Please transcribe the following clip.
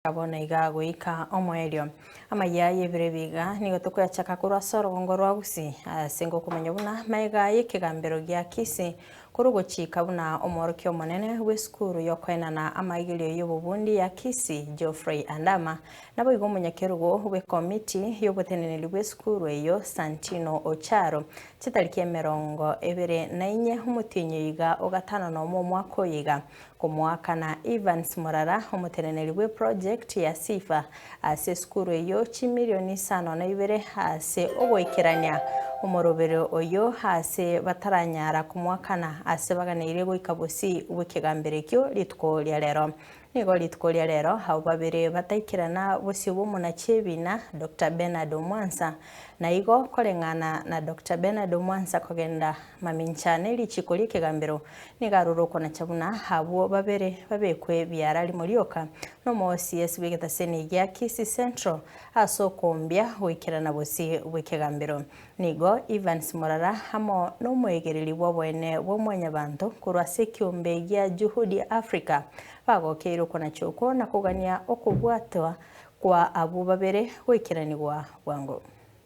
Abo naiga agoika omoerio. Amayia aye ebere biga nigo tokoyachaka korwa ase orogongo rwa Usi, ase ngokomanya buna maega y'ekegambero gia Kisi, korwa ogochika buna omworokia omonene bw'esukuru y'okoenana amaigerio y'obobundi ya Kisi, Geoffrey Andama, naboigo omonyakerugo bw'ekomiti y'oboteneneri bw'esukuru eyio, Santino Ocharo. Chitariki emerongo ebere na inye omotienyi oiga o gatano nomo omwaka oyo iga, Komoakana Evans Murara, omoteneneri bwe project ya Sifa ase esukuru eyio chimirioni isano na ibere ase ogoikerania omorobere oyio ase bataranyara komoakana ase baganeire goika bosii bw'ekegamberekio rituko ria rero. Nigo rituko ria rero abwo babere bataikerana bosio bw'omonachi ebina Doctor Bernard Omwansa na igo koreng'ana na Doctor Bernard Omwansa kogenda Mamincha ne richiiko ri'ekegambero nigo aroro okonacha buna abwo babere babekwe biara rimo rioka n'omoosiesi bw'egetaseni egia Kisii Central ase okombia goikerana bosii bw'ekegambero. Nigo Evans Morara amo n'omoegereri bw'oboene bw'omwanyabanto korwa ase ekeombe gia Juhudi Africa bagokeire okonacha okwo na kogania okobwatwa kwa abwo babere goikeranigwa bwango.